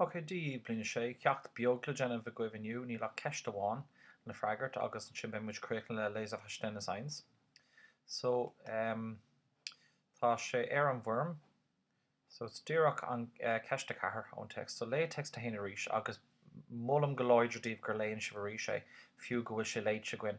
Ok, Dé, Bliain a sé, ceacht beag le déanamh agaibh inniu, níl ach ceist amháin le freagairt agus ansin beidh muid críochnaithe le Leseverständnis 1. So, ehm, tá sé ar an bhfoirm, so is díreach an, eh, ceist a ceathair ón Text. So, léigh Text a haon arís agus. Molaim go láidir daoibh gur léann sibh arís é, fiú go bhfuil sé léite againn.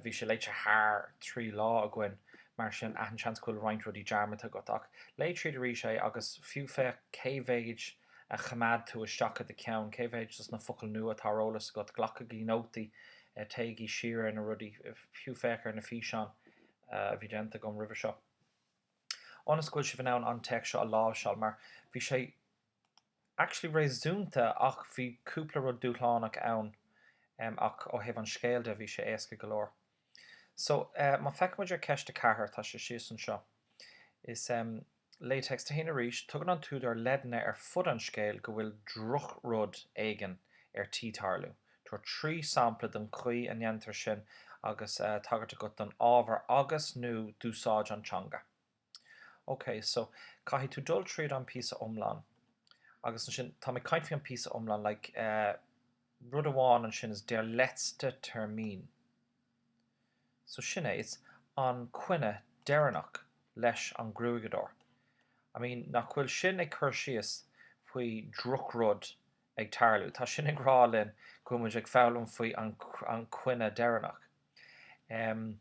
Bhí sé léite thar trí lá againn, mar sin achan seans go bhfuil roinnt rudaí dearmadta agat, ach léigh tríd arís é, agus fiú féach cé mhéid a choimeád tú isteach i do cheann, cé mhéid de na focail nua atá ar eolas agat. Glacaigí nótaí, téigí siar ar na rudaí, fiú féach ar na físeáin a bhí déanta agam roimhe seo, ionas go bhfuil sibh in ann an téacs seo a láimhseáil, mar bhí sé. actually réasúnta, ach bhí cúpla rud dúshlánach ann em ach ó thaobh an scéil de bhí sé éasca go leor so eh má feiceann muid ar ceist a ceathair tá sé síos anseo is em léigh Text 1 arís tugann an t-údar leideanna ar fud an scéil go bhfuil drochrud éigin ar tí tarlú tabhair trí sampla den chaoi a ndéantar sin agus eh tagairt agat don ábhar agus, nó d'úsáid an teanga. Ok, so, caithfidh tú dul tríd an píosa iomlán. Agus ansin, tá mé ag caint faoi an píosa iomlán, like, eh, rud amháin ansin is der letzte Termin. So sin é, it's an coinne deireanach leis an gruaigeadóir. I mean, nach bhfuil sin ag cur síos faoi drochrud ag tarlú? Tá sin ag rá linn go muid ag foghlaim faoi an, an coinne deireanach. Em.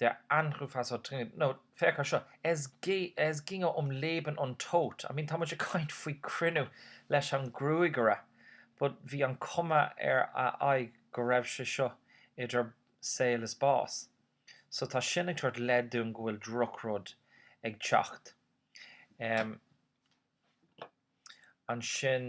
Der Anruf war so dringend, nó féach ar seo, Als ginge es um Leben und Tod, I mean tá muid ag caint faoi cruinniú leis an gruagaire, but bhí an cuma ar a aghaidh go raibh sé seo idir saol is bás. So tá sin ag tabhairt leid dúinn go bhfuil drochrud ag teacht. Ansin.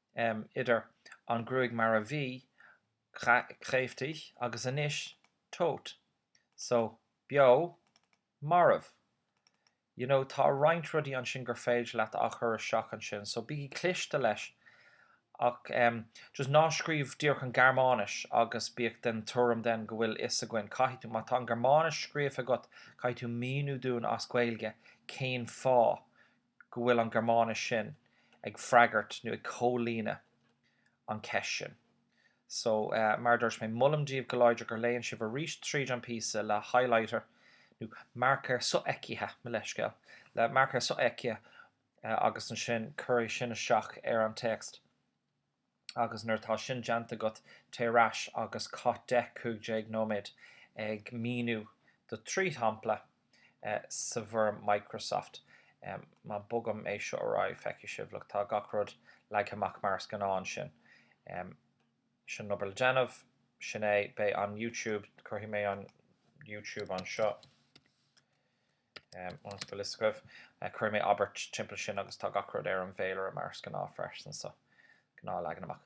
idir an ghruaig mar a bhí, kräftig, agus anois, tot, so, beo, marbh. You know, tá roinnt rudaí ansin gur féidir leat a chur isteach ansin, so bígí cliste leis ach em just ná scríobh díreach an Ghearmáinis agus bíodh den tuairim then go bhfuil a fhios againn, caithfidh tú, má tá an Ghearmáinis scríofa agat caithfidh tú míniú dúinn as Gaeilge cén fáth go bhfuil an Gearmáinis sin ag freagairt nó ag comhlíonadh an cheist sin. So, mar a dúirt mé, molaim daoibh go láidir gur léann sibh arís tríd an píosa le highlighter nó marcóir sofheicthe, mo leithscéal, le marcóir sofheicthe agus ansin cuirigí sin isteach ar an téacs. agus nuair atá sin déanta agat téigh ar ais agus caith deich cúig déag nóiméad ag míniú do thrí shampla sa bhfoirm Microsoft. Má bogaim é seo ar aghaidh feicfidh sibh, look, tá gach rud leagtha amach mar is gnáth ansin. Sin an obair le déanamh, sin é, beidh an YouTube, cuirfidh mé an YouTube anseo. Ionas go bhfuil a fhios agaibh, eh, cuirfidh mé abairt timpeall sin agus tá gach rud ar an bhféilire mar is gnáth freisin, so, gnáth leagan amach.